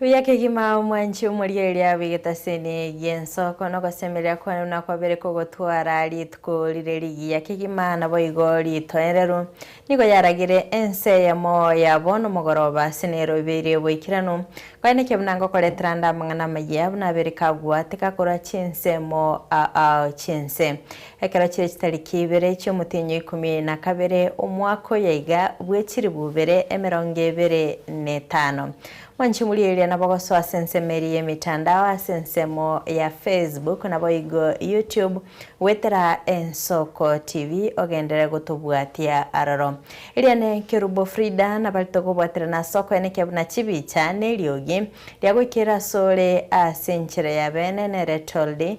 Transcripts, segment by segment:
Buya kegima omwanche omoria eria abegete ase ene y'ensoko, na ogosemeria kwane nakwabere kogotwara rituko rire rigiya kegima, naboigo ritoereru nigo yaragire ense eyemo ya bono mogoroba ase nero ebeire eboikeranu. Kore naki buna ngokoretera nde amang'ana amayia buna abere kagwateka korwa chinsemo aa chinse, Ekero chire chitariki ibere chi'omotienyi oikomi na kabere, omwaka oye iga, bw'echiribu ibere emerongo ebere netano, mwanchimurie eria nabogosoa ase ensemo eria y'emitandao, ase ensemo ya Facebook, naboigo YouTube, goetera Ensoko TV, ogendere gotobwatia aroro. Eria n'Ekerubo Frida, nabarete kobwaterana ase okoyana ekiya buna chibicha, neriogi, ria goikera asore ase enchera y'abeene, nere Toldy,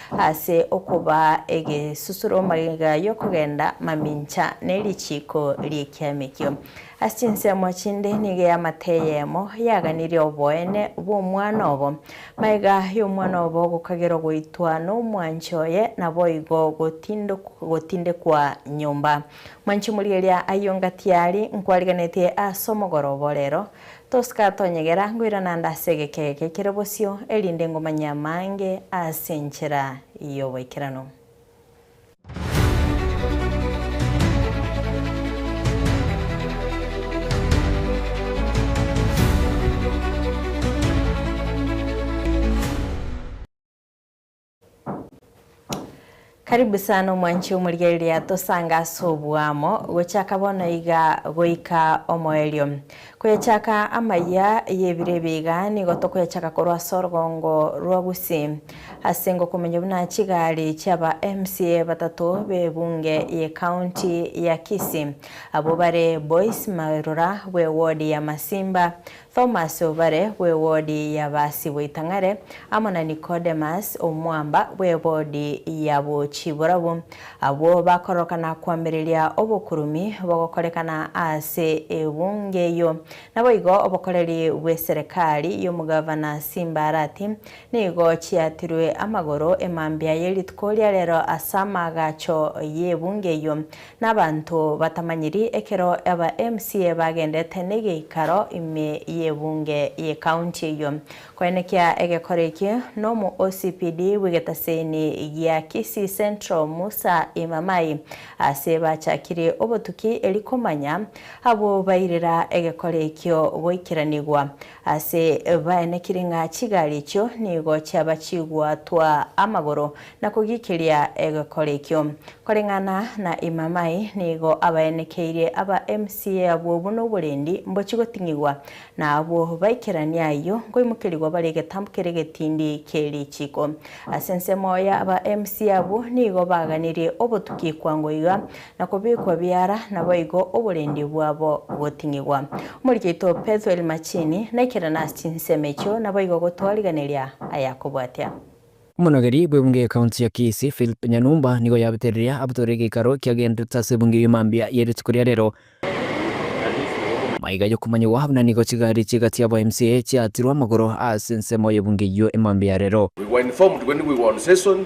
Ase okobaa egesusuro magega y'okogenda mamincha ne richiiko ri'ekiamekio. Ase chinsemo chinde nigo eamate eyemo yaganirie oboene bw'omwana obo. Magega y'omwana obo gokagerwa goitwa nomwanche oye naboigo gotindekwa nyomba. Mwanchi moria eria ayio ngatiari nkwariganeti as'omogoroba orero, Tosika tonyegera, ngoirana nde ase egekega kia kera bosio, erinde ngomanye amaange ase enchera y'obaikeranu. Karibu sana omwanchi omorigereria tosange ase oboamo gochaka bono iga goika omoerio. Koyechaka amaya y'ebiro ebi iga nigo tokoyechaka korwa ase orogongo rwa Gusii ase ngokomanya buna chigari chiaba MCA batato b'ebunge ye county ya Kisii abwo bare Boyce Marura bw'ewodi ya Masimba, Thomas obare bw'ebodi y'abaasi boitang'are, amo na Nikodemus omwamba bw'ebodi ya bo chiborabu, abwo bakororoka na koamereria obokurumi bogokorekana ase ebunge eyio. Naboigo obokoreri bw'eserekari y'omogavana Simbarati nigo chiatirwe amagoro emambia ye rituko ria rero as'amagacho y'ebunge eyio, Nabanto batamanyiri ekero aba MCA bagendete negeikaro ime y'ebunge ye county eyio koenekia egekora eki, nomo OCPD bw'egetaseni gia Kisii Central Musa Imamai ase bachakirie obotuki eri komanya abwo bairera egekora ekio goikeranigwa Ase baenekiri ng'a chigari echio nigo chiaba chigwatwa amagoro na kogiikeria egekore ekio. Koreng'ana na Imamai nigo abaenekeirie aba MCA abwo buna oborendi mbochigoting'igwa, na abwo baikerania ayio nkoimokerigwa bare egetambo kere egetindi kie richiiko. Ase ensemo ya aba MCA abwo nigo baganirie obotuki kwango iga na kobekwa biara, naboigo oborendi bwabo goting'igwa. Omoika oito Petho el Machini, naikerana ase chinsemo echio, naboigo gotoa riganeria ayakobua atia. Omonogeri bw'ebunge y'Ekaunti ya Kisii, Philip Nyanumba, nigo yabete riria abotore egeikaro kiagenderete ase ebunge eyio mambia ye rituko ria rero. Maiga yokomanyigwa buna nigo chigari chiga chia aba mca chiatirwe amagoro ase ensemo y'ebunge eyio emambia ya rero. We were informed when we were on session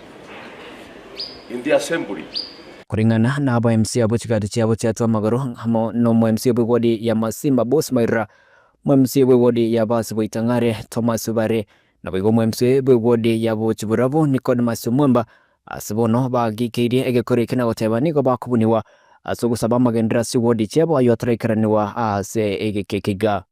in the assembly. Koring'ana na aba MC abwo chigati chiabo chiatua amagoro amo nomo MC bw'egodi ya Masimba Boss Mairora, omo MC bw'egodi ya Baasi Boitang'are Thomas Obare, naboigo omo MC bw'egodi ya Bochiburabo Nicodemus Omwemba, ase bono bagikeirie egekori eke na goteba nigo bakobunigwa ase ogosaba amagenderero ase egodi chiabo ayio ataraikeraniwa aase egekeke iga.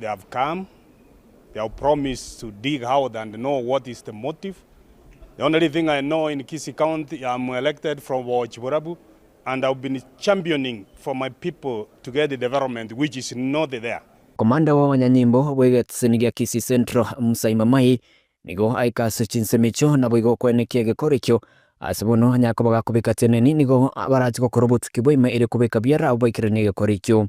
They have come, they have promised to dig out and know what is the motive. The only thing I know in Kisii county I am elected from Boochi Borabu and I have been championing for my people to get the development which is not there. Komanda w'abanyanyimbo bw'egeteseni gia Kisii Central, Musa Imamai, nigo aika ase chinsemo echio naboigo okwenekia egekora ekio. Ase bono, onye akoba gakobeka teneni, nigo barache gokora obotuki bwa ime ere kobeka biara abwo baikeranie egekora ekio.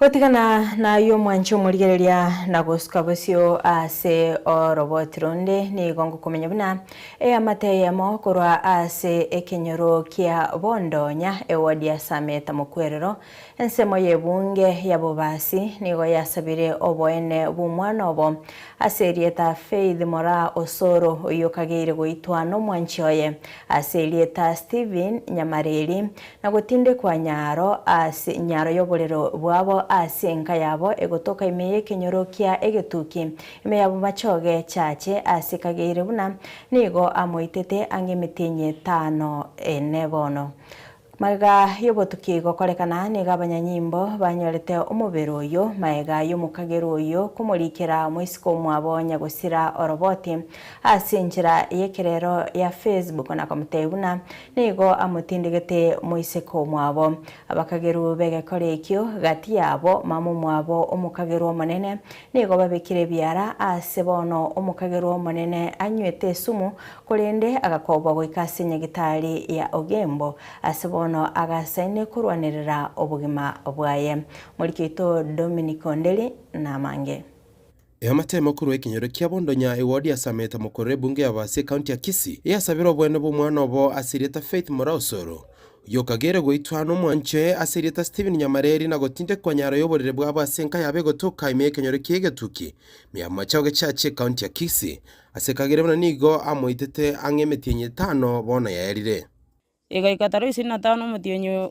Gotigana nayio omwanche omorigereria na gosuka bosio ase oroboti ronde, nigo ngokomenya buna eamate eyemo korwa ase ekenyoro kia bondo onya ewodi ya Sameta mokwerero. Ensemo y'ebunge ya bobasi nigo yasabire oboene bw'omwana obo ase erieta Faith Moraa Osoro oyio okageire goitwa nomwanchi oye ase erieta Stephen Nyamareri Na gotindekwa nyaro ase nyaro y'oborero bwabo ase enka yabo egotoka ime y'ekenyoro kia egetuki, ime y'abamachoge chaache ase kageire buna nigo amoitete ang'e emetienyi etano ene bono. Maega y'obotuki gokorekana nigo abanyanyimbo banyorete omobere oyio, maega y'omokagerwa oyio komorikera moisiko omwabo nyagosira oroboti ase enchera y'ekerero ya Facebook na komotebia buna Nigo amotindigete moiseke omwabo. Abakageru b'egekori ekio gati yabo, mama omwabo omokageru omonene, nigo babekire ebiara aase. Bono omokageru omonene anywete esumu, korende agakobwa goika ase enyagitari ya Ogembo, ase bono agasaine korwanerera obogima bwaye. Moriki oito Dominic Onderi namange. Eamatemo korwa ekenyoro kia Bondonya Ewodi yasamete mokoro ebunge ya Baasi ekaunti ya Kisii eyasabire oboene bw'omwana obo ase erieta Faith Mora Osoro, oyio okageire goitwa nomwanche ase erieta Stephen Nyamareri na gotindekwa nyaro y'oborere bwabo ase enka yabo egotoka ime y'ekenyoro kia Egetuki Miamacha ogechache ekaunti ya Kisii ase kagere buna nigo amoitete ang'e emetienyi etano bono yaerire. Egoika taroisini na tano omotienyi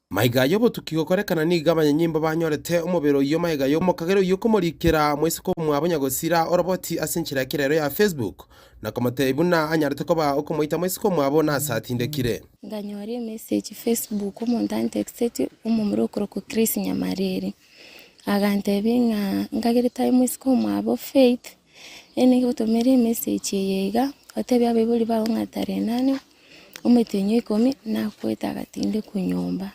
Maiga y'obotuki gokorekana nigo abanyanyimbo banyorete omobere oyio maiga y'omokagera oyio komorikera moiseke omwabo nyagosira oroboti ase enchera y'ekera ero ya Facebook, na komotebia buna anyarete koba okomoita moiseke omwabo nase atindekire. Nkanyora emessage Facebook omonto antexeti omomura okorokwa Chris Nyamariri. Agantebia ng'a nkagerete aye moiseke omwabo Faith Eena igotomera emessage eye iga, otebie abaibori bago ng'a tarehe nane, omotenyo ikomi, nagoeta agatinde korwa nyomba,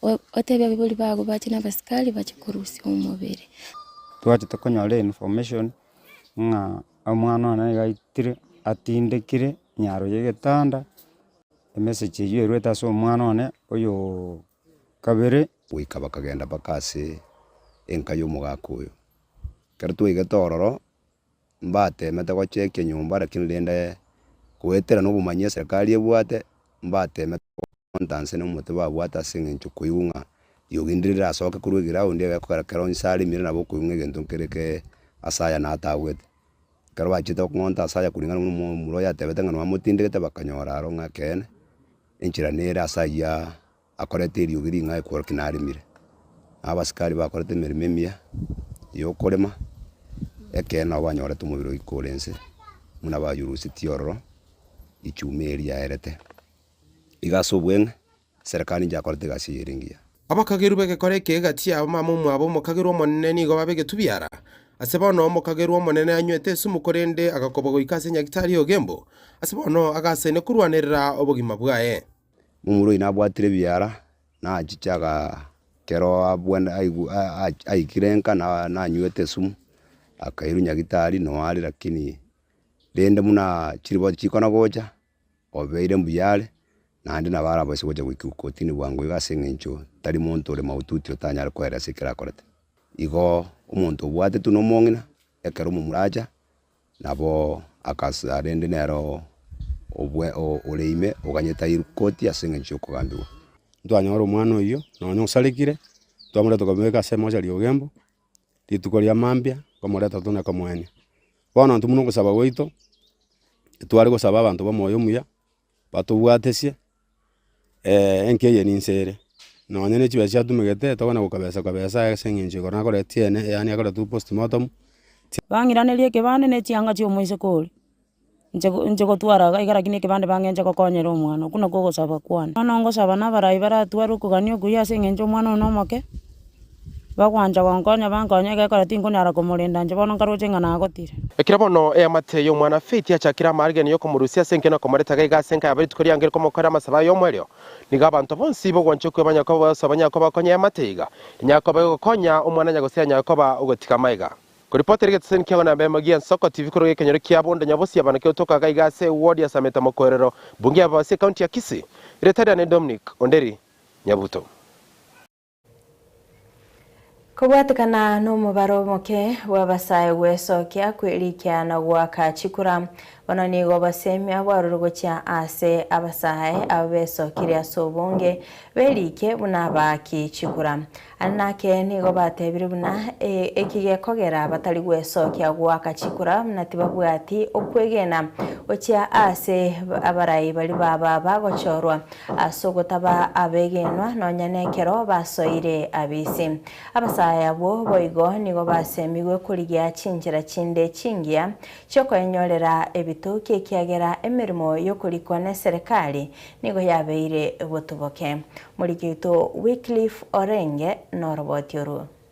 o- otebie abaibori bago bache na abasikari bache korusia omobere. Twachete konyora information ng'a omwana one nigo aitire atindekire nyaro y'egetanda, emessage eywo erwete ase omwana one oyooo kabere. Goika bakagenda mpaka ase enka y'omogaka oyo. Ekero twaigete ororo, mbateemete gochia ekenyomba, rakini rende goetera nobomanyi eserikari ebwate, mbateemete gokonta nse nomote babwate ase eng'encho koigwa ng'a riogi ndire rirasoke korwa egeroundi eye ekero kero inse aremire nabo okoigwa ng'a egento nkere kee ase aya natagwete. Ekero bachiete okong'onta ase aya kuringana buna omomura oyo atebete ng'a nwamotindigete bakanyora aro ng'a ekeene enchera nere ase ayia. Akoreta eriogi ring'ai korwa ki naremire, na abasikari bakorete emeremo emiya yokorema, ekeene nabo banyorete omobere oyo iko ore inse, buna bayurusetie ororo echuma eye riaerete. Iga ase obweng'e, eserekari inche yakorete egasi eye ere engiya. Abakagerwa b'egekora eke egati yabo mamumu abo omokagerwa omonene nigo babe egetubiara. Ase bono omokagerwa omonene anywete esumu korende agakobwa goika ase nyagitari y'ogembo, ase bono agasaine korwanerera obogima bwaye. Momura oyio nabwatire ebiara, nachiche ekero abwene aigwe aikire nka na- nanywete esumu, akairwa nyagitari noo are lakini rende buna chiriboti chikona gocha, obeire mbuya are, naende nabo arabwo ase gocha goikigwa kortini bwango iga ase eng'encho tari monto ore maututi otanyare koera ase ekero akorete. Igoo omonto obwate tuna omong'ina, ekero omomura acha, Nabo agasa rende nero obwe ore ime oganyete ayerwe koti ase engencho ya okogambigwa. Ntwanyora omwana oyio nonya osarekire, twamoreta twamobeka ase emochari ya ogembo, rituko ria mambia nkomoreta tone komoenia. Bono intwe buna ogosaba gwaito, tware gosaba abanto ba omoyo omuya. batobwatesie, enki eye ninse ere, nonya ne chibesa chiatumegete tokona gokabesa kabesa aye ase eng'encho ekero nakoreta ekeene, yaani akoretwa postmortem. Bang'iraneria ekebande ne chianga chia omoiseke oria, inche inche gotwara iga iga rakini ekebande bang'enche gokonyera omwana, okwo nakwo ogosaba kwane. Bono ngosaba na abarai baratware okogania okuyia ase eng'encho omwana oyo nomoke, Bagwancha gonkonya bankonye egekora tinkonyara komorenda inche bono nkaroche ng'a nagotire. Ekero bono eamate y'omwanafe etiachakire amaarigani y'okomorusia ase enke na okomoreta gaiga ase enka yabo rituko riange rikomokorera amasabo aye y'omoerio, nigo abanto bonsi b'ogwancha okwe banyakoba oboyoso banyakoba gokonya eamate iga, enyakoba egokonya omwana anyagosia enyakoba ogotiga amaiga. Koripotera egeteseni kia Wanabemba gia Nsoko TV korwa gekenyoro kia Bondo Nyabosia bana kegotoka iga iga ase ewodi ya Sameta Mokoerero, Bunge ya Babasi, Ekaunti ya Kisii. Rieta riane Dominic Onderi Nyabuto. Kobwatekana nomobaro omoke bw'abasae gwesokia, kwerikia na goaka chikura, bono nigo obosemia bwarure gochia ase abasae aba besokire ase obonge, berikie buna abaaki chikura. Aria nake nigo batebire buna ee eki gekogera batari gwesokia goaka chikura buna tibabwati okwegena gochia ase abarai baria ba baba gochorwa. ase ogotaba abegenwa nonya nekero basoire abisi. Abasae abwo boigo nigo basemigwe korigia chinchera chinde chingiya chi'okoenyorera ebitoki ekiagera emeremo y'okorikwa neserekari nigo yabeire botuboke. Moriki oito Wycliffe Orenge noroboti orwo.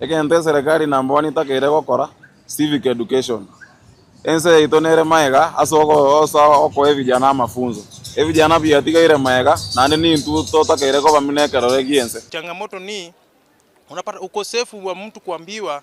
Egento eserekari na mbwani etakeire gokora, civic education. Ense yaito nere maega ase ogosa okoa ebijana amafunso. Ebijana biatigaire maega naende nintwe totakeire koba muna ekerore gi'ense. Changamoto ni, unapata ukosefu wa mtu kuambiwa.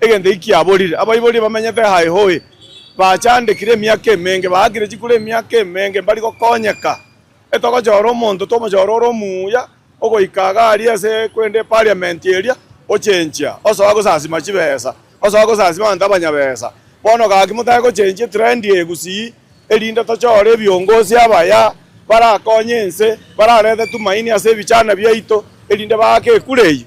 Egento eki kiaborire, abaibori bamenyete aa Ehoe bachandekire emiaka emenge, baakire chikura emiaka emenge mbari gokonyeka. Etogochora omonto twomochore ore omuya ogoika iga aria ase korende epariamenti eria ochenchia osoa gosasima chibesa, osoa gosasima abanto abanyabesa. Bono gaki motake gochenchia etrendi eye gusii erinde tochore ebiongozi abaya barakonye ense, bararete tumaini ase ebichana biaito erinde baake ekura eyio.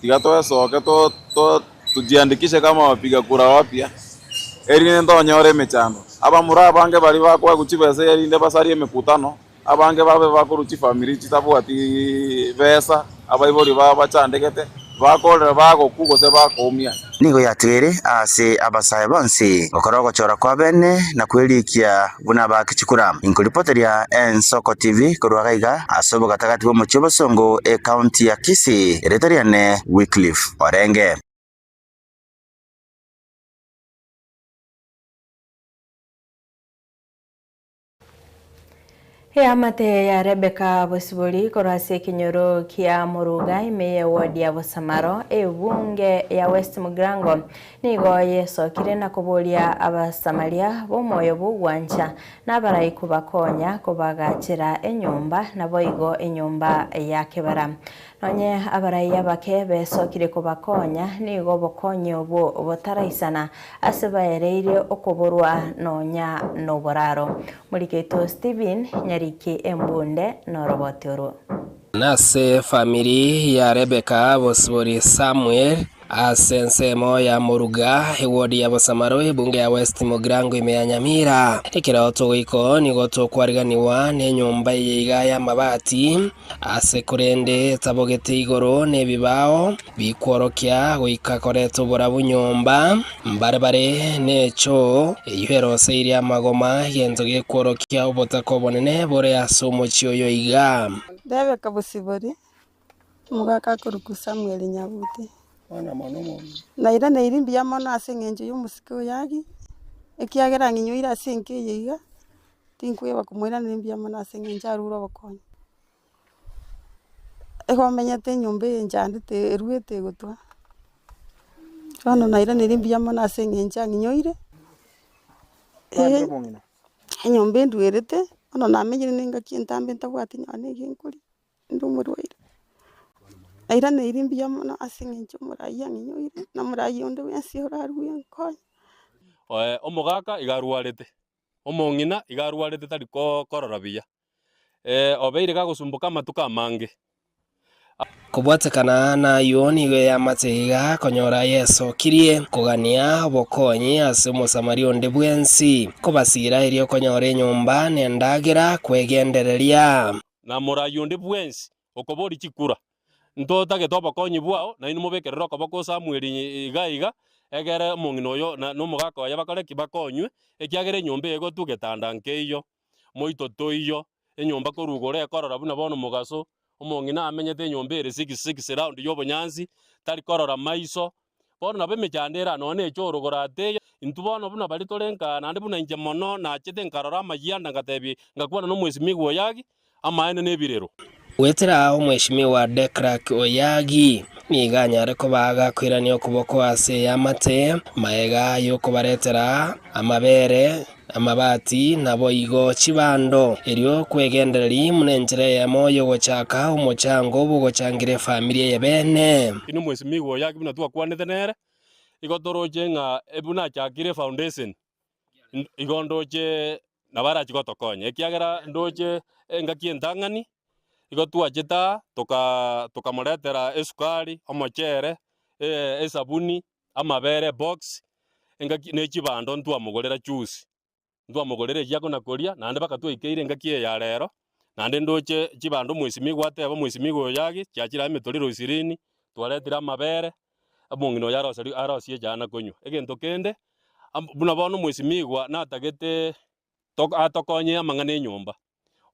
Tiga twesoke tojiandikishe kama abapiga kura abapya, erinde tonyore emechando. Abamura abange baria bakoegwa chibesa erinde basarie emekutano, abange babe bakorwa chifamiri chitabwati besa, abaibori babo bachandegete, bakorera, bagokwa, gose bakoumia. Nigo yatigere aase abasae bonsi gokora ogochora kw'abene na kw'eriikia. buna abake chikura. Inko ripoti ria Ensoko TV korwa iga iga ase obogatagati bw'omochie obosongo ecounty ya Kisii, erieta riane Wycliffe Orenge. Eamate ya Rebeka bosibori korwa ase ekenyoro kia Moruga ime ye ward ya Bosamaro, ebunge ya West Mugrango, Nigo yesokire na koboria Abasamaria b'omoyo bw'ogwancha nabaraiku bakonya kobagachera enyomba, naboigo enyomba ya kebara. Nonye abarai abake besokire kobakonya, nigo obokonyi obwo botaraisana ase baereire okoborwa nonya noboraro. Morikeito Stephen, Nyariki Embunde, Noroboti orwo. Nase efamiri ya Rebeka bosibori Samuel ase ensemo ya moruga ewodi ya bosamaro ebunge ya West Mogirango ime ya Nyamira. Ekero togoiko nigo tokwariganigwa nenyomba eye iga y'amabati ase korende etabogete igoro n'ebibao, bikworokia goika koreta oborabu nyomba, mbare bare nechoo eyio erose ire amagoma, egento gekworokia obotaka obonene bore ase omochie oyo iga. Rebeka bosibori, omogaka akorokwa Samueli Nyabuti. Nairaneirie mbuya mono ase engencho y'omosike oyo Agi, ekiagera ang'inyoire ase enka eye iga, tinkweba komoiraneria mbuya mono ase engencho arure obokonyi. Igo omenyete enyomba eye enchandete eruete egotwa, bono nairaneri mbuya mono ase eng'encho ang'inyoire, enyomba enduerete, bono namenyire ne engaki entambe ntabwati nonya ne ege nkoria, inde omorwaire, nairaneiri mbuya mono ase eng'encho omoraai ang'inyoire, na omoraai onde bwensi orarue nkonye. Omogaka iga arwarete, omong'ina iga arwarete tari korora buya. eh, obeire gagosumboka amatuko amange. Kobwatekana nayuo nigo eyamate iga konyora Yeso kirie kogania obokonyi ase Omosamaria onde bwensi, kobasiira erio okonyora enyomba nendagera kwegendereria. Na morayi onde bwensi okobori chikura, ntotagete obokonyi bwao, nainwe mobekerere okoboko Samueli iga iga, egere omong'ina oyo na nomogaka oye bakore ki? Bakonywe, ekiagera enyomba eye egotwa getanda nkeiyo. Moito toiyo, enyomba korwa igoro ekorora buna bono omogaso. Omong'ina amenyete enyomba ere six six round y'obonyansi, tari korora maiso. Bono nabo emechando ere anono neche orogoro ate iga. Intwe bono buna baria tore nkaa, naende buna inche mono, nachete nkarora amayia anda ngatebia, ngakwana nomwesimigwa oyo, Gaki, amaene na ebirero. Goetera aa Omweshimiwa De Klerk Oyagi nigo anyare kobaa agakoirania okoboko ase eamate, magega y'okobaretera amabere, amabati, naboigo chibando, erio kwegendereri buna enchera eyemo y'ogochaka omochango bw'ogochangira efamiri eye bene. Inwe Mweshimiwa Oyagi buna twakwanete nere, igo toroche ng'a buna achakire efaundeseni, N- Igo ndoche nabo arachi gotokonya, ekiagera ndoche engaki entang'ani, igo twachete aa, toka tokamoretera esukari, omochere, eh, esabuni, amabere, ebox, engaki ne chibando ntwamogorera chuuzi, ntwamogorera eria akona koria, naende mpaka twaikeire engaki eye ya rero, naende ndoche chibando mwesimigwa ateba mwesimigwa oyo yagi, chiachire aye emetorero ishirini, twaretire amabere, omong'ina oyo aroseru- arosie echae na konywa. Egento kende, am- buna bono omwesimigwa natagete to- atokonye amang'ana enyomba.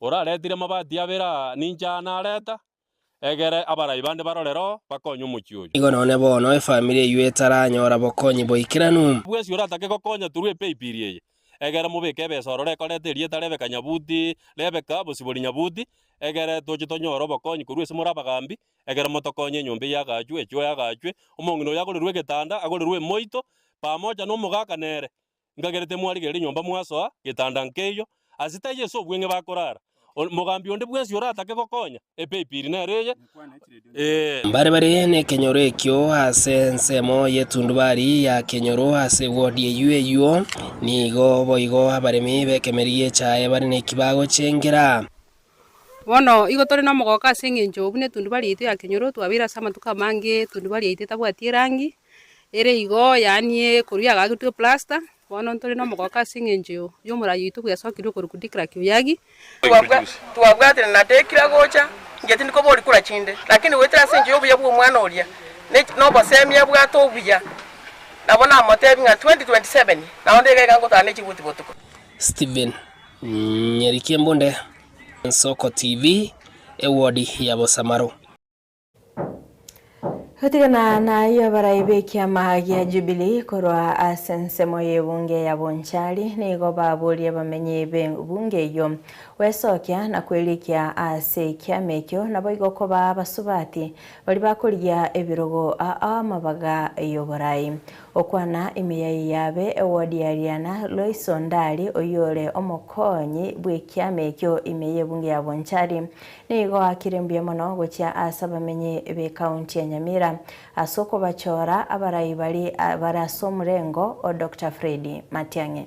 Oraretire amabati abere aa, ninki aya nareta? Egere abarai bande barorere oo, bakonye omochie oyo. Nigo nonye bono efamiri eyio etaranyora bokonyi boikeranu. Bwesi oratake gokonya through epaybill eye, egere mobeke ebesa ororo ekoreta erieta Rebecca Nyabuti, Rebecca, bosibori Nyabuti, egere toche tonyore obokonyi korwa ase more abagambi, Ekero motokonya enyomba eye agachwe, echoe agachwe, omong'ina oyo agorerwe egetanda, agorerwe emoito, pamoja nomogaka nere, nkagerete mwarigerere enyomba mwasoa getanda nkeiyo, ase taiyo ase obweng'e bakorara. O- Mogambi onde bwensi oratake gokonya, epeipiri nere eye, ee. Mbare bare nekenyoro ekio ase ensemo y'etundubari ya kenyoro ase wodi eyio eyio, nigo boigo abaremi b'ekemeri gi'echae bare nekibago ch'engera. Bono igo tore nomogooko ase engencho buna etunduba riaito ya kenyoro twabeire ase amatuko amange etunduba riaito etabwati erangi, ere igo yaani ekorwa yagagetwe plasta, bono ntore nomogooko ase engencho yomorai oito bwesokirie okorokwa Dikrak Oyagi. Twabwatire na Dekira gocha, inche tindi kobori kura chinde, lakini goetera ase engencho y'obuya bw'omwana oria, ne nobosemi abwate obuya, nabo namotebi ng'a 2027 naende iga iga ngotara ne chibuti botuko. Stephen Nyarikiembunde, Nsoko TV, Ewodi ya Bosamaro. Gotigana nayio abarai b'ekiama gia Jubilee korwa ase ensemo y'ebunge ya Bonchari nigo baborie abamenyi b'ebunge eyio gwesokia na kwerikia ase ekiama ekio naboigo kobaa abasubati baria bakorigia ebirogo aa amabaga y'oborai Okwana emeyai yabe Ewodiariana Loiso Ndari oyore omokonyi bw'ekiama ekio ime y'ebunge ya Bonchari nigo akire mbuya mono gochia ase abamenyi b'ekaunti ya Nyamira ase okobachora abarai baria bare ase omorengo o Doctor Freddy Matiang'i.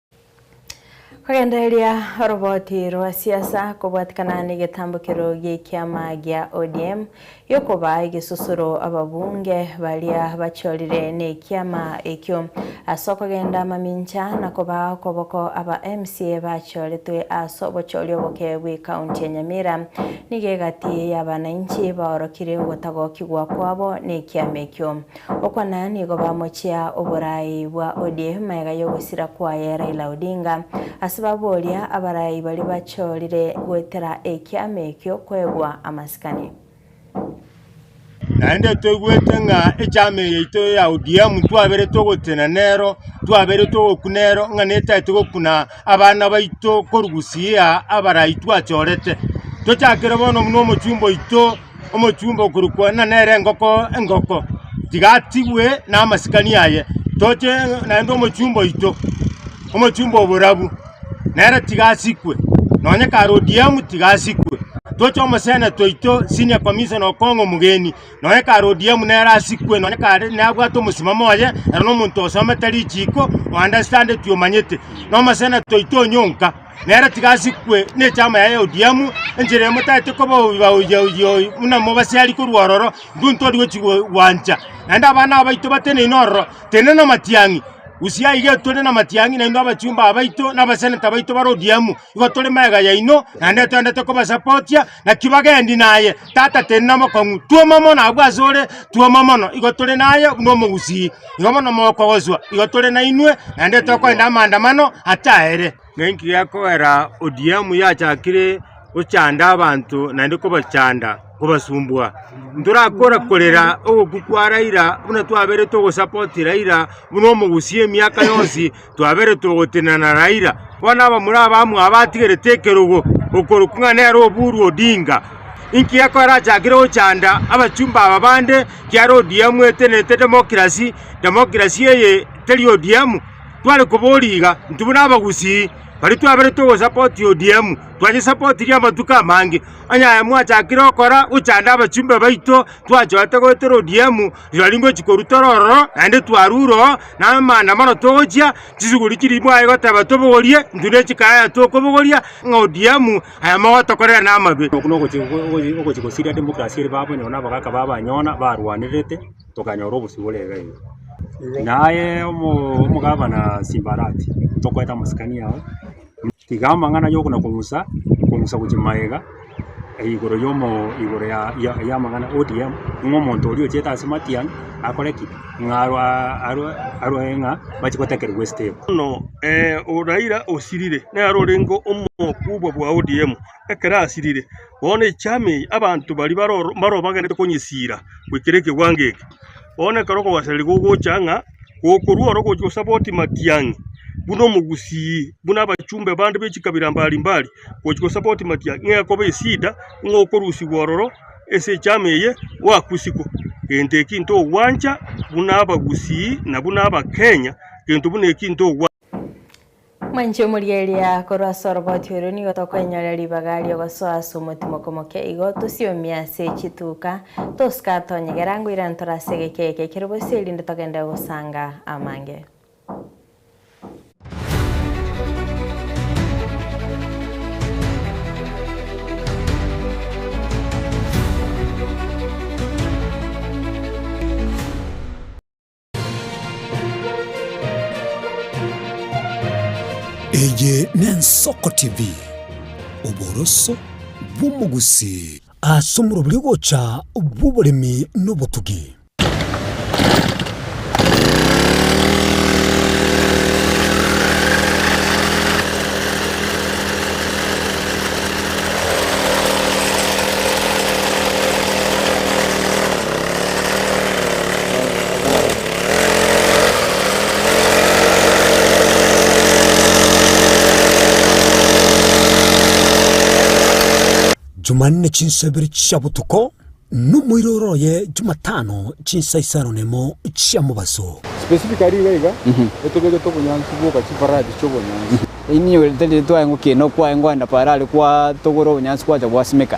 Kogendereria oroboti rwa siasa kobwatikana negetambukero gi'ekiama gia ODM giokoba egesusuro ababunge baria bachorire nekiama ekio ase okogenda amamincha na koba okoboko aba mca bachoretwe ase obochori oboke bwe county ya Nyamira nigo egati y'abanainchi baorokire ogotagokigwa kwabo nekiama ekio. Okwana nigo bamochia oboraai bwa ODM ega yogosira kwaye Raila Odinga. Ase baboria abaraai baria bachorire goetera ekiama ekio koegwa amasikani. Naende toigwete ng'a echaama eye yaito ya ODM twabeire togotenena nero, twabeire togokuna nero ng'a netaete gokuna abana baito korugusia abaraai twachorete. Tochakere bono buna omochumba oito. omochumba okorokwa ng'a nere engoko engoko, tiga atigwe namasikani aye. Toche naende omochumba oito, omochumba o borabu, nere tiga asikwe, nonye kare ODM tiga asikwe. Toche omoseneto oito, senior commissioner Okong'o omogeni, nonye kare ODM nere asikwe, nonye kare nabwate omosimamo oye, ere nomonto osomete richiiko, o understandeti omanyete. Nomoseneto oito Onyonka. Nere tiga asikwe nechama yaye Odiamu, enchera eye motaete koba oyo baoyia oyia oyo buna mobasiari korwa ororo, intwe ntori gochi gwancha, naende abana abaito bateneine ororo, tende namatiang'i. Usia iga etore namatiang'i nainwe abachumba abaito nabaseneta baito bare Odiamu, igo tore magega yaino, naende toendete kobasapotia, Naki bagendi naye, Tata teri nomokong'u, twoma mono abwo asore, twoma mono, igo tore naye buna omogusii, igo bono mokogoswa, igo tore nainwe, naende tokoenda amaandamano ataere. Nenki gekogera ODM yachakire gochanda abanto naende kobachanda, kobasumbua? Ntorakora korera ogokwa kwa Raila buna twaberete ogosupport Raila buna omogusii emiaka yonsi, Twaberetwe gotenena na Raila, bono abamura abamwe abatigerete ekerogo okorokwa ng'a nere Oburu Odinga. Inki gekora arachakire gochanda abachumba aba bande kiaro ODM etenenete democracy? Democracy eye teri ODM? Tware koboria iga, intwe buna abagusii baria twaberetwe gosupport ODM, twanyesapotirie amatuko amange. Onye aye mwachakire gokora gochanda abachumba baito, twachoete goetera ODM. Rirorio ngochia korutora ororo, naende twarure oo, na amanda mono togochia, chisuguri chiria bwaye goteba tobogorie, intwe ne chikaya yaye tokobogoria, ng'a ODM aya mogotokorera namabe. Okwo na ogochi- ogo- ogochi gosiria democracy ere babo nyona abagaka babo banyona barwanerete, tokanyora obosio bore iga iga. Naye omo- omogabana Simbarati, tokoeta amasikani ao. Tiga amang'ana y'okona-kong'usa kong'usa gochia magega igoro y'omo igoro ya ya y'amang'ana ODM, ng'a omonto oria ochete ase Matiang' akore ki? Ng'a arwa arwa arwae ng'a bache gotekerigwa esitebo. Bono ee oo Raila osirire nere orenge omokubwa bwa ODM ekero asirire bono echama eye abanto baria baroro mbare obagenderete konyesira goikera ekewango eke. Bono ekero okobasereri gogocha ng'a gokorua ore ogochia gosaba oti matiang'i, buna omogusii, buna abachumbe bande be chikabira mbari mbari, gochia gosaba oti matiang'i, ng'a ekoba esida ng'a okorusigwa ororo ase echama eye gwakusigwa. Gento eki ntogwancha buna abagusii na buna abakenya, gento buna eki ntogwancha. Mwanche omoria eria korwa ase oroboti orio nigo tokwenyorera ribaga ri'ogosoa ase omotimoko moke igo tosiomie ase chituka, toska tonyegera ngoira ntore ase egeke eke kere bosie erinde togende gosanga amange. Eye n'Ensoko TV, oboroso bw'omogusii. Ase omoroberio bw'ogocha bw'oboremi n'obotugi. Jumanne chinsa ibere chia botuko, na omoiroro oye Jumatano chinsa isano na emo chia mobaso. Specifically iga iga etogegete obonyansi bwoka chifaradi chi'obonyansi. Inee ore tari twaye ngokina okwaye ngoenda paro are kwa togora obonyansi gwacha gwasimeka.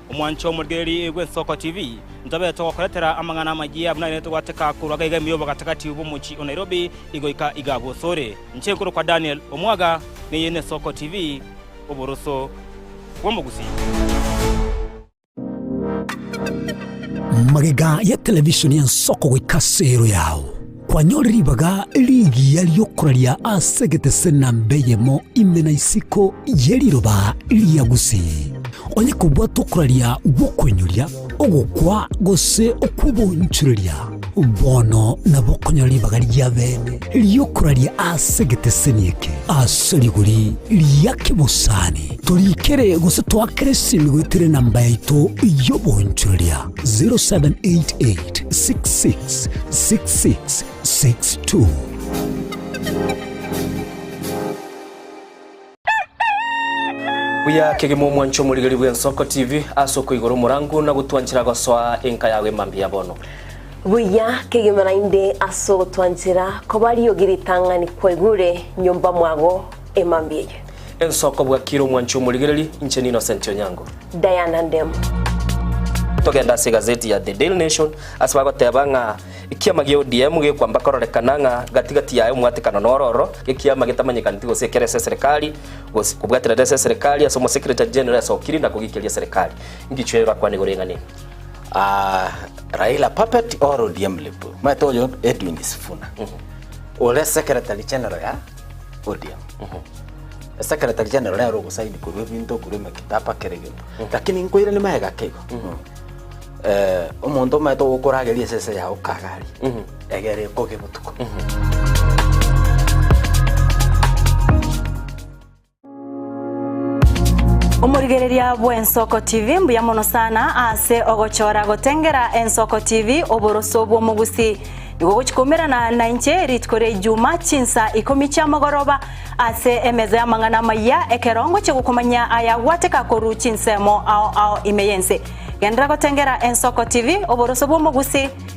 Omwancho omorigereria oigwe Nsoko TV, ntobeete gokoretera amang'ana amayia buna nere togwateka korwa gaiga emeyobo gati-gati bw'omochie o Nairobi igoika iga gosore. Inche nkorokwa Daniel Omwaga, na eye ne Nsoko TV, Oboroso bw'Omogusii. Magega ya televishoni ya Nsoko goika ase ero yao. Kwanyora ribaga rigiya ri'okoraria ase egetesena mbeyemo ime na isiko ye riroba ria Gusi. Onye kobwate okoraria gw'okwenyoria, ogokwa, gose okw'obonchoreria, bono nabo okonyora ribaga ri'abene ri'okoraria ase egeteseni eke, ase rigori ria kebosani. Toriikere gose toakere esegi goeterera namba yaito y'obonchoreria. 0788 666662. Buya kegima omwanche omorigeri bw'Ensoko TV ase okoigora omorango na gotwanchera gosoa enka yao ime mbuya bono. Buya kegima naende ase ogotwanchera koba riogi ritang'ani kwaigure nyomba mwago. emambia eye. Ensoko bwakire omwancho omorigereri inche ni Innocent Onyango. Diana Ndemu. Togende ase egazeti ya The Daily Nation ase bagoteba ng'a ekiama gia ODM gekwamba kororekana ng'a gati gati yaye omwatekano noro oro gekiama getamanyekaneti gose ekero ase eserekari gose kobwaterera ase eserekari ase omosecretary general ase okiri na kogikeria eserekari. Ingicho eye bakwane igoro eng'ane aa Raila puppet or ODM lipu. Omanyete oyo Edwin Sifuna ore secretary general ya. Odiemo. Esekretari General nere ogosaini korwa ebinto korwa emekitapa kera egento. Lakini nkoirani magega ki igo? Eh, omonto omanyete ogokorageria esese yao kagari. Egere ekoge botuko. Omorigereria bw'Ensoko TV mbuya mono sana ase ogochora gotengera Ensoko TV oboroso bw'omogusi. Nigo ogochikomerana nainche rituko ria Ijuma chinsa ikomi chiamogoroba ase emeza y'amang'ana amayia ekero ngochia gokomanyia ayagwateka korwa chinsemo ao ao ime y'ense. Genderera gotengera Ensoko TV oboroso bw'omogusi.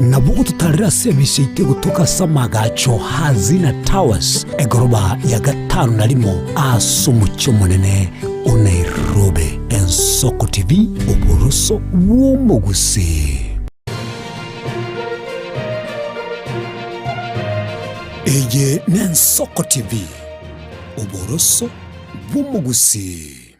Nabwo gototaarere ase ebisaito egotoka ase amagacho a Hazina Towers, egoroba ya gatano na rimo ase omochie omonene o Nairobi. Ensoko TV, Oboroso bw'Omogusii. Eye n'Ensoko TV, Oboroso bw'Omogusii.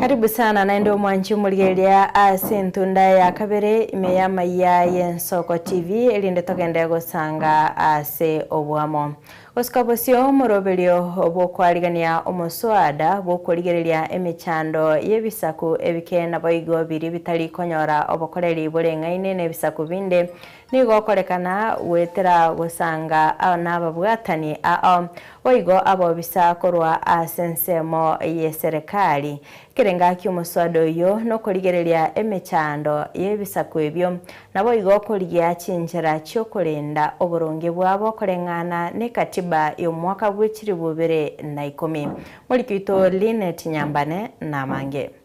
Karibu sana naende omwanchi omorigereria ase entunda ya kabere ime ya Maiya y'Ensoko TV erinde togende gosanga ase oboamo. Gosuka bosio moroberio bw'okoarigania omosoada bw'okorigereria emechando y'ebisaku ebike naboigo biria bitari konyora obokoreri boreng'aine n'ebisaku binde Nigo okorekana goetera gosanga nababwatani ao boigo abobisa korwa ase ensemo y'eserekari. Ekere ngaki omoswada oyio nokorigereria emechando y'ebisaku ebio, naboigo okorigia chinchera chi'okorenda oboronge bwabo koreng'ana n'ekatiba y'omwaka bw'echilifu ibere na ikomi. Morikito Lynette Nyambane namange.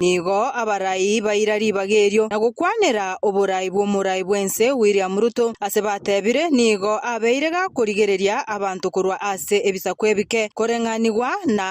Nigo abarai baira ribaga erio na gokwanera oborai bw'omorai bw'ense William Ruto ase batebire nigo abeire gakorigereria abanto korwa ase ebisaku ebike, koreng'anigwa na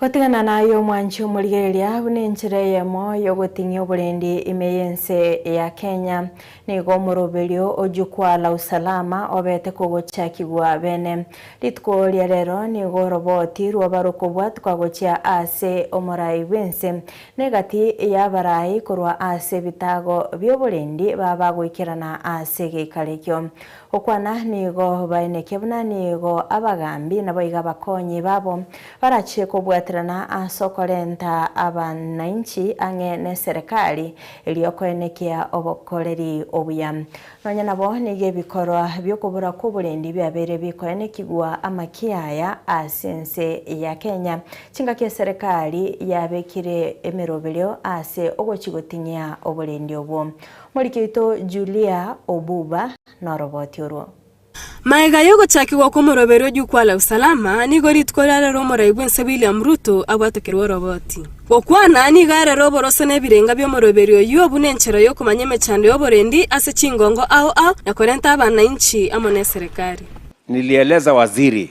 Gotigana naye omwanchi omorigereria buna enchera eyemo y'ogoting'ia oborendi ime y'ense ya Kenya. Nigo omoroberio oyio kwa Lala Usalama obete kogochakigwa bene. Rituko ria rero nigo oroboti rw'abarokobwa tukagochia ase omorai bw'ense, na egati y'abarai korwa ase ebitago bi'oborendi baba goikerana ase egeikarekio. Gokwana nigo baeneke buna nigo abagaambi nabo iga abakonyi babo barachie kobwaterana ase okorenta abanainchi ang'e neserekari eria okoenekea obokoreri obuya. Nonya nabo nigo ebikorwa bi'okobora kw'oborendi biabeire bikoenekigwa amaki aya ase ense ya Kenya, chingaki eserekari yabekire emeroberio ase ogochi goting'ia oborendi obwo. Morikeito Julia Obuba noroboti orwo. Magega y'ogochakigwa kw'omoroberio o Jukwaa la Usalama, nigo rituko riarero rwo Omorai bw'ense William Ruto abwatokerwe oroboti. Gokwana nigo arere oboroso nebirenga bi'omoroberio oyio buna enchera y'okomanya emechando y'oborendi ase chingongo ao ao na korenta abanainchi amo neserekari. Nilieleza waziri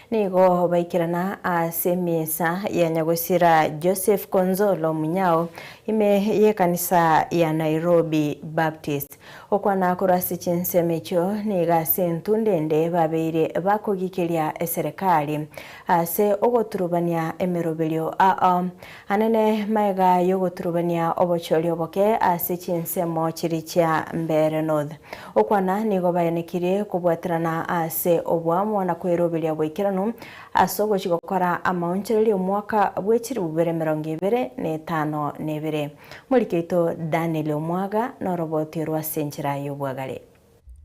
Nigo baikerana ase emesa ya nyagosira Joseph Konzolo Munyao ime y'ekanisa ya Nairobi Baptist. Gokwana korwa ase chinsemo echio nigo ase entw ndende babeire bakogiikeria eserekari ase ogoturubania emeroberio ao Anene maega y'ogoturubania obochori oboke ase chinsemo chiria chia Mbeere North. Okwana nigo baenekirie kobwaterana ase oboamo na kweroberia goikeranu ase ogochi gokora amaonchoreria omwaka bwe chiribubere emerongo ebere na etano na ebere. Moriki oito Daniel Omwaga noroboti orwo ase enchera y'obwagare.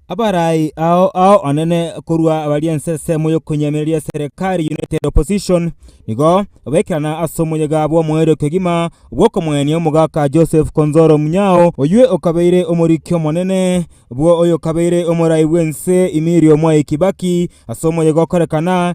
Abarai ao ao onene korwa abari ense ensemo y'okonyemereria eserekari United Opposition nigo baekerana ase omoyega bw'omoerio kegima bw'okomoenia omogaka Joseph Konzolo Munyao oyio okabeire omoriki omonene bw'oyokabeire omorai bw'ense Emilio Mwai Kibaki ase omoyega okorekana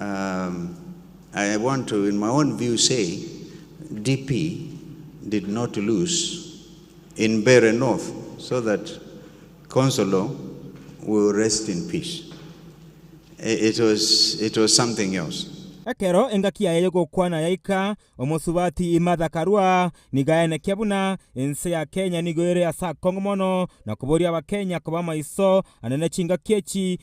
I want to in my own view say DP did not lose in Mbeere North so that Consolo will rest in peace. It was it was something else. Ekero engaki yaye y'ogokwana yaika, omosubati Martha Karua nigo aenekia buna ense ya Kenya nigo ere ase akongo mono na koboria Abakenya koba amaiso ane ne chingaki echi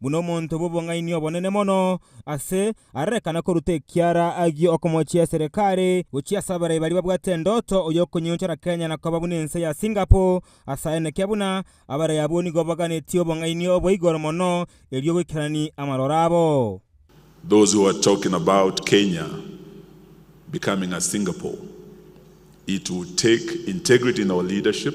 buna omonto bw'obong'aini obonene mono, aase ararekana koruta ekiara agio okomochia eserekare gochia ase abarai baria babwate endoto oy'okonyeonchora Kenya na koba buna ense ya Singapore ase aye nekia buna abarai abwo nigo baganetie obong'aini obwa igoro mono erio goikerani amaroro abo. Those who are talking about Kenya becoming a Singapore it will take integrity in our leadership,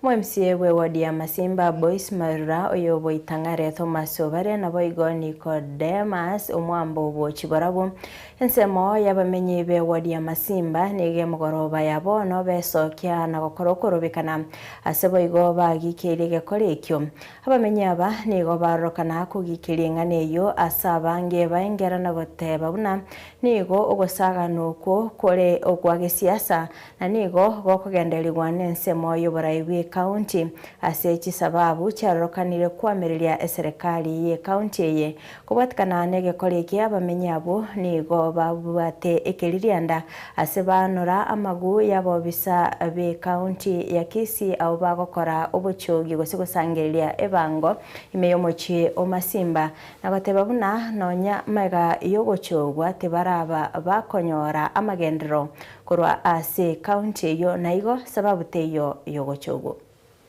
Omomsie bw'ewodi ya Masimba Boys Marura oyoboita Ng'are Thomas Obare naboigo Nicodemus Omwambo obo chiborobwo. Ensemo y'abamenyi b'ewodi ya Masimba nigo emogoroba ya bono besokia na gokora okorobekana ase boigo bagikeirie egekore ekio. Abamenyi aba nigo barorokana kogikeria eng'ana eyio ase abange baengera na goteba buna nigo ogosaagana okwo kore okwa gesiasa Na nigo gokogenderigwa nensemo y'oborai bw'Ekaunti ase chisababu chiarorokanire koamereria eserekari y'Ekaunti eye. Kobwatikana n'egekori eke abamenyi abwo nigo babwate ekeririanda ase baanora amag'u y'abobisa b'Ekaunti ya Kisii abwo bagokora obochogi gose gosangereria ebango ime y'omochie o Masimba na goteba buna nonya maiga y'ogochogwa tibaraba bakonyora amagenderero Korwa ase county eyio naigo sababu teiyo yogocha obo.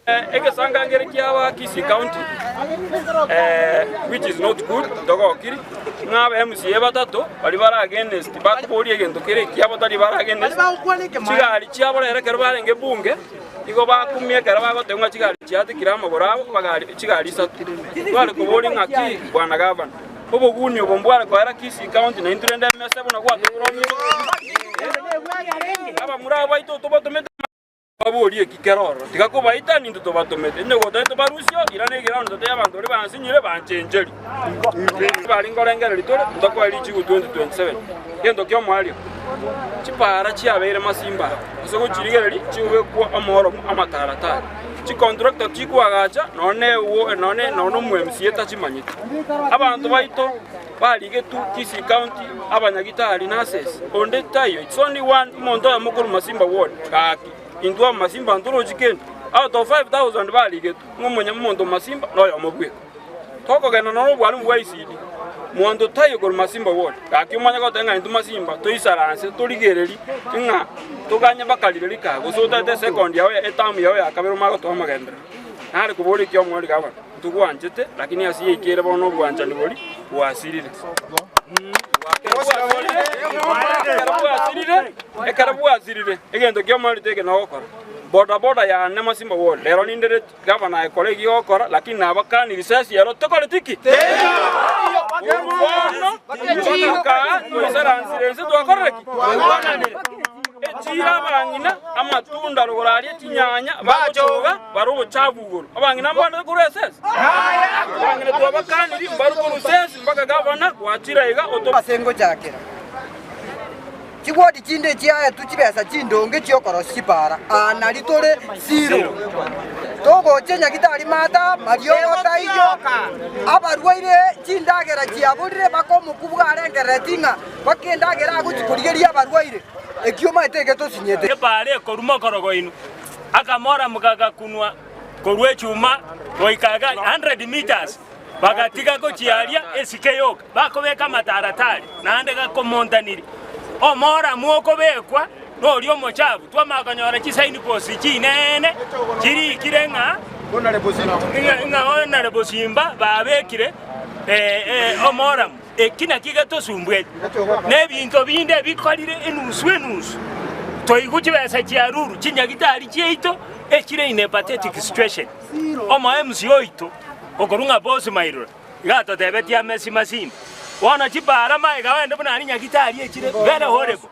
Egesangangere kiabo Kisii County which is not good ntogokiri ng'a aba MCA batato baria bare against bakoboria egento kere ekiabo tari bare against chigari chiabo rero ekero barenge bunge igo bakumia ekero bagoteba ng'a chigari chiatikire amagoro abo chigari isato tware koboria ng'aki bwana gavana. Obogunia obo mbware koera Kisii County na intwe rende emesa buna gwatokoromire. Abamura abaito otobatomete amang'ana baborie ki kera ororo, tiga kobaita ninto tobatomete. Inche gotari tobarusia oo, irana egerango ninto tari abanto baria bansinyire banchencheri. Bari nkorengereria tore ntokoe richigu 2027 gento ki'omoerio. Chipaara chiabeire masimba ase gochirigereria chigobekwa omooromo amataratara. Chikontrakta tikwagacha, nonya nomwemsiye tachimanyeti. Abanto baito barigetwe Kisii County, abanyagitari, nurses, onde taiyo, it's only one omonto oyomo korwa Masimba ward, gaki, intwe abamasimba ntorochi kende. Out of 5,000 barigetwe, ng'omonto omosimba noyomo bweka. Togokenda noro obwanwa bwa Isidi, monto taiyo korwa Masimba bwoti, gaki omanye goteba ng'a intwe Masimba toisaranse torigererie ng'a toganye bakari baria kaa, gose otaete esekondi yao ya etamu yao ya kabere omanye gotoa amagenderero. Nare kobora ekiya omoriri kabe, Ntogwanchete, lakini ase yaito ere bono obwanchani boria bwasirire. Ekero bwasirire, egento ki'omoriri tiki nogokora. Boda boda yane Masimba bwoti, rero nindereti. Gava naye kora ekiya ogokora, lakini nabakani risasi ero tokoreti ki? Korwa bono mpaka kaa toisaransire ense twakorire ki? Twagananire. Echira abang'ina amatunda rogoro aria chinyanya bagochoga bare obochafu igoro. Abang'ina mbabande korwa esese? Abang'ina twabakaniri mbarwe korwa sesi mpaka gavana gwachira iga oto. Ase ngochakera. Chigodi chinde chiaetwe chibesa chindonge chi'okorosia chipaara, aa nari tore Silo, togochia Nyagitari Maata mariogo taiyo. Abarwaire chindagera chiaborire, bakomokwa bwarengereretie ng'a bake endagera agochia korigeria abarwaire, ekio omaete egetosinyete. Epaara ekoruma okorogo inwe, akamoramoka agakunwa korwa echuma goika 100 metres, bagatiga gochiaria esike yoka. Bakobeka amataratari naende gakomontaniri. Omoramu okobekwa noria omochafu twamanya konyora chisignposts chineene chirikire ng'a honorable Simba babekire omoramu. Eki nakio getosumbueti. Nebinto binde bikorire enusu enusu. Toigwe chibesa chiaruru chinyagitari chiaito echire in a pathetic situation. Omo mca oito okorwa ng'a Boss Mairora. Ngatotebetie ame esima sime. Bono chipaara maega ogende buna aria nyagitari echire bere Horebo.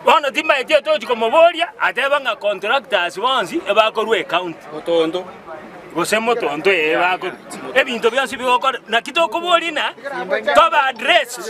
Bono timbaeti otochi komoboria ateba ng'a contractors bonsi ebakorwa ecounty. Motonto. Gose motonto ee bakorwa. Ebinto bionsi bigokora. Naki tokoboria na toba address.